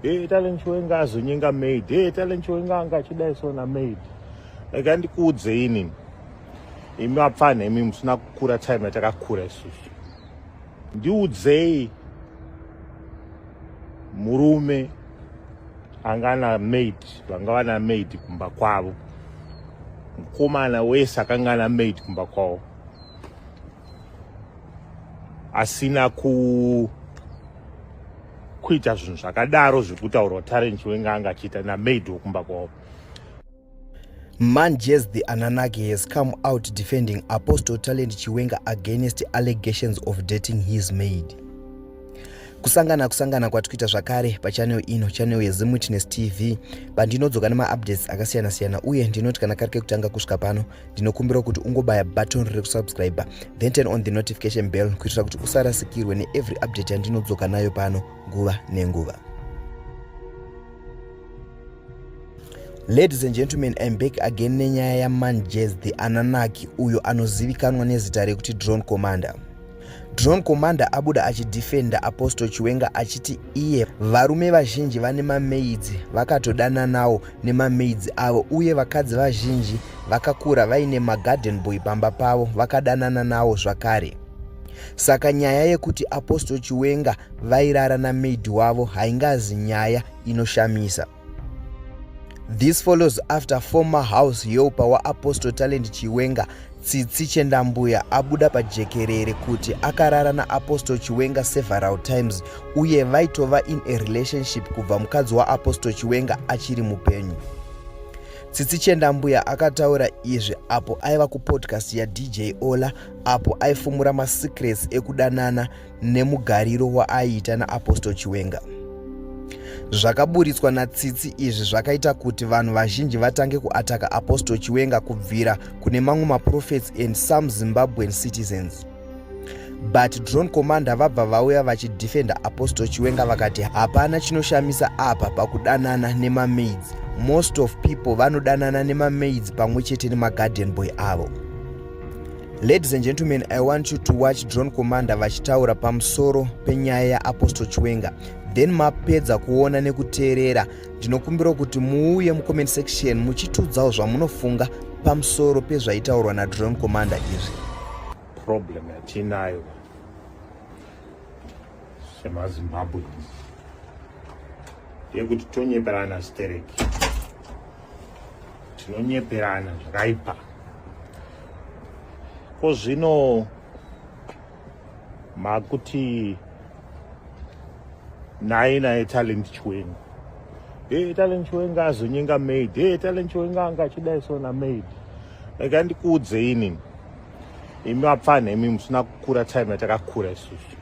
Hey, eh, talent wenga azonyenga maid. Hey, eh, talent wenga anga achidai sona maid. Like andikuudze ini. Imi vapfana imi musina kukura time yatakakura isusu. Ndiudzei murume anga ana maid vanga vana maid kumba kwavo mukomana wese akanga ana maid kumba kwavo asina ku kuita zvinhu zvakadaro zvekutaurwa talent wenge anga achiita namaid wekumba kwavo Manjes the Ananaki has come out defending Apostle Talent Chiwenga against allegations of dating his maid. Kusangana kusangana kwatikuita zvakare pachanel ino chanel yeZimwitness TV pandinodzoka nemaupdates akasiyana siyana uye ndinoti kana kari kekutanga kusvika pano ndinokumbira kuti ungobaya button rekusubscribe then turn on the notification bell kuitira kuti usarasikirwe neevery update yandinodzoka nayo pano nguva nenguva ladies and gentlemen im back again nenyaya yamanjez the ananaki uyo anozivikanwa nezita rekuti drone commander Drone Commander abuda achidefenda Apostle Chiwenga achiti iye varume vazhinji vane mamaidzi vakatodananawo nemamaidzi avo uye vakadzi vazhinji vakakura vaine magarden boy pamba pavo vakadanana nawo zvakare. Saka nyaya yekuti Apostle Chiwenga vairara namaid wavo haingazi nyaya inoshamisa. This follows after former house helper waApostle Talent Chiwenga Tsitsi Chendambuya abuda pajekerere kuti akarara naApostle Chiwenga several times uye vaitova in a relationship kubva mukadzi waApostle Chiwenga achiri mupenyu. Tsitsi Chendambuya akataura izvi apo aiva kupodcast yaDJ Ola apo aifumura masecrets ekudanana nemugariro waaiita naapostle chiwenga zvakaburitswa natsitsi izvi zvakaita kuti vanhu vazhinji vatange kuataka apostle chiwenga kubvira kune mamwe maprofets and some zimbabwean citizens but drone commander vabva vauya vachidefenda apostle chiwenga vakati hapana chinoshamisa apa pakudanana nemamaids most of people vanodanana nemamaids pamwe chete nemagarden boy avo Ladies and gentlemen, I want you to watch Drone Commander vachitaura pamusoro penyaya yaApostle Chiwenga. Then mapedza kuona nekuteerera, ndinokumbira kuti muuye mucomment section muchitiudzawo zvamunofunga pamusoro pezvaitaurwa naDrone Commander izvi. Problem yatinayo semaZimbabweans yekuti tonyeperana stereki. tinonyeperana zvakaipa ko zvino makuti naye naye talent chiwenga e eh, talent chiwenga azonyenga maid e eh, talent chiwenga anga achidai sona maid like andikuudze ini imi vapfanha imi musina kukura time yatakakura isusu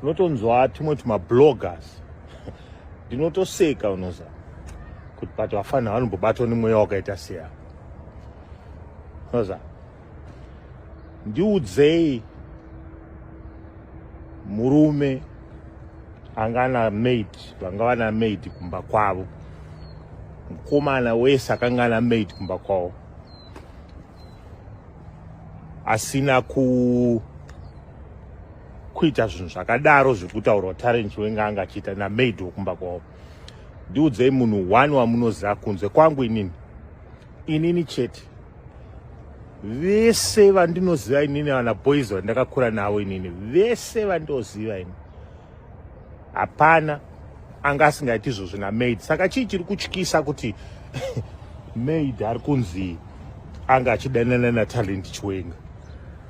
unotonzwa timwe tumabloggers ndinotoseka unoza kuti but vafana vanombobatwa nemweya wakaita seya unoza ndiudzei murume anga ana maid vanga vana maid kumba kwavo mukomana wese akanga ana maid kumba kwavo asina ku kuita zvinhu zvakadaro zvekutaurwa tarent wenga anga achiita namaid wekumba kwavo ndiudzei munhu one wamunoziva kunze kwangu inini inini chete vese vandinoziva inini vana boys vandakakura navo inini vese vandoziva ini hapana anga asingaiti izvozvo namaid saka chii chiri kutyisa kuti maid ari kunzi anga achidanana natalent chiwenga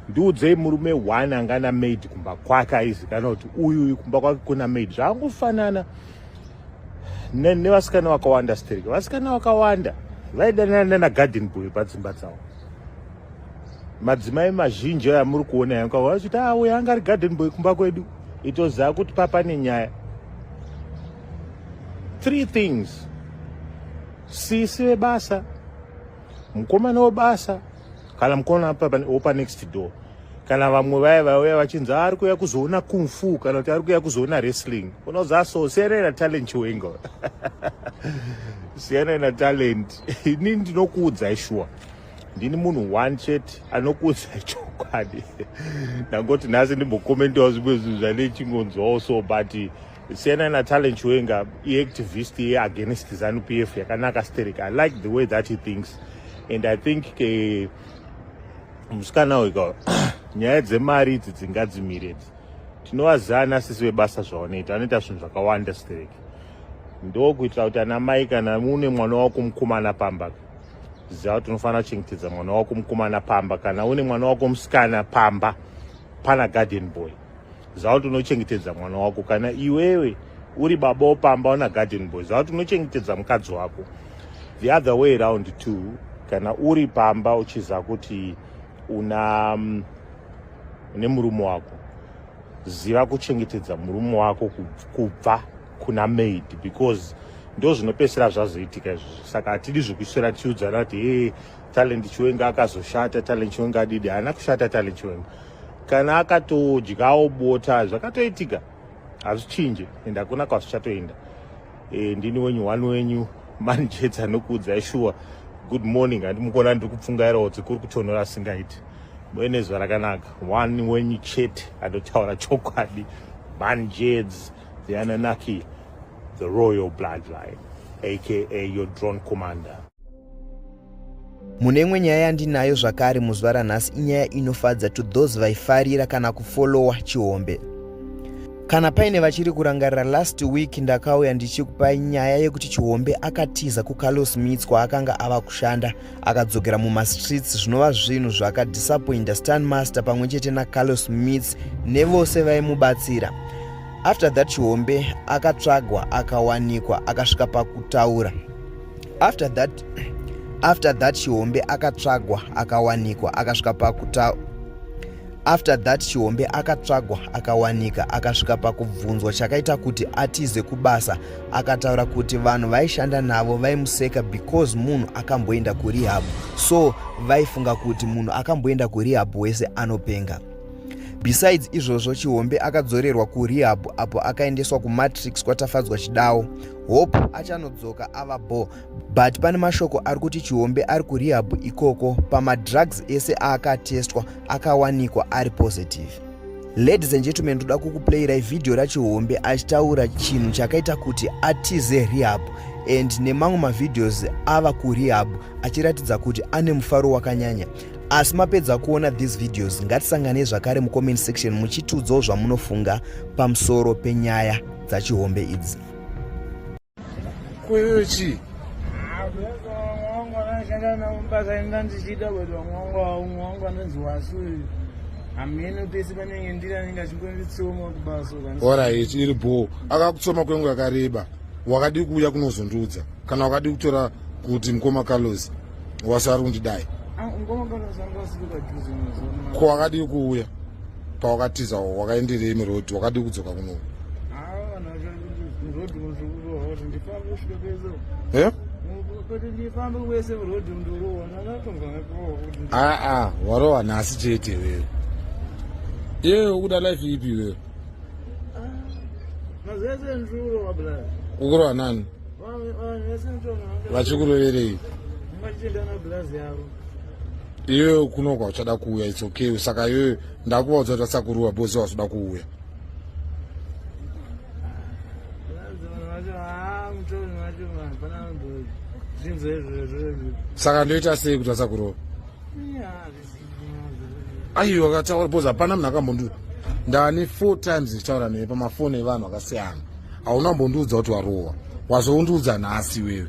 ndiudzei murume one anga namaid kumba kwake aizikana kuti uyu uyu kumba kwake kuna maid zvaangofanana nevasikana vakawanda stereke vasikana vakawanda vaidanana nanagarden boy padzimba dzavo madzimai mazhinji aya muri kuona yangu avo vachiti ah uya anga ari garden boy kumba kwedu itoziva kuti papa nenyaya three things sisi vebasa mukomana webasa kana mukomana wopa next door kana vamwe vaye vauya vachinzi ah, ari kuuya kuzoona kung fu kana kuti ari kuuya kuzoona wrestling unozi aso ah, siyanai natalent chiwengo siyanai natalent ini ndinokuudzai shuwa ndini munhu one chete anokuudza chokwadi ndangoti nhasi ndimbokomentawo zvimwe zvinhu zvanechingonzwawo so but siyana natalent chiwenga iactivist yeagainst zanu p f yakanaka steric i like the way that he thinks and i think ke musikana uyu nyaya dzemari idzi dzingadzimire idzi tinovaziva ana sisi vebasa zvavanoita vanoita zvinhu zvakawanda steric ndokuitira kuti ana mai kana une mwana wako mukomana pambaka ziva kuti unofanira kuchengetedza mwana wako mukomana pamba kana une mwana wako musikana pamba pana garden boy ziva kuti unochengetedza mwana wako kana iwewe uri baba wopamba una garden boy ziva kuti unochengetedza mukadzi wako the other way around two kana uri pamba uchiziva kuti una mm, une murume wako ziva kuchengetedza murume wako kubva kuna maid because ndo zvinopesera zvazoitika izvozvo saka hatidi zvekuiswera tichiudzana kuti e talent chiwenga akazoshata talent chiwenga adidi haana kushata talent chiwenga kana akatodyawo bota zvakatoitika hazvichinje and hakuna kwazvichatoenda e, ndini wenyu one wenyu manjets anokuudzai shuwa good morning handimukuona ndiri kupfungairawo kuti kuri kutonhora asingaiti muenezuva rakanaka one wenyu chete anotaura chokwadi manjets The Anunnaki, the royal bloodline, aka your drone commander. mune imwe nyaya yandinayo zvakare muzuva ranhasi inyaya inofadza to those vaifarira kana kufolowa chihombe kana paine vachiri kurangarira last week ndakauya ndichikupai nyaya yekuti chihombe akatiza kucarlos mits kwaakanga ava kushanda akadzokera mumastreets zvinova zvinhu zvakadisappointa stan master pamwe chete nacarlos mits nevose vaimubatsira after that chihombe akatsvagwa akawanikwa akasvika pakutaura after that after that chihombe akatsvagwa akawanikwa akasvika pakuta after that chihombe akatsvagwa akawanika akasvika pakubvunzwa chakaita kuti atize kubasa akataura kuti vanhu vaishanda navo vaimuseka because munhu akamboenda kurehab so vaifunga kuti munhu akamboenda kurehab wese anopenga besides izvozvo chihombe akadzorerwa kurehab apo akaendeswa kumatrix kwatafadzwa chidawo hope achanodzoka ava bo but pane mashoko ari kuti chihombe ari kurehab ikoko pamadrugs ese aakatestwa akawanikwa ari positive Ladies and gentlemen, toda kukuplayirai vhidhiyo rachihombe achitaura chinhu chakaita kuti atize rehab and nemamwe mavhidhios ava kurehab achiratidza kuti ane mufaro wakanyanya asi mapedza kuona these videos ngatisanganei zvakare mucomment section muchitiudzawo zvamunofunga pamusoro penyaya dzachihombe idzi kweyo chii orit iri bho akakutsoma kwengu yakareba wakadii kuuya kunozondiudza kana wakadii kutora kuti mukoma carlos wasari kundidai ah, ko wakadii kuuya pawakatiza wakaenderei murodhi wakadii kudzoka kunoku eh? aa warohwa nhasi chete wewe iyewe ukuda life ipi wewe ukurohwa nani vachikuroverei iyoyo kuno kwauchada kuuya its okay saka iyoyo ndakuvaudza kuti vasakuruva bose vazoda kuuya saka ndoita sei kuti vasakurova aiwa kataura bcause hapana munhu akambondi ndani four times ndichitaura neye pamafoni evanhu akasiyana hauna mbondiudza kuti warova wazoundiudza nhasi iwewe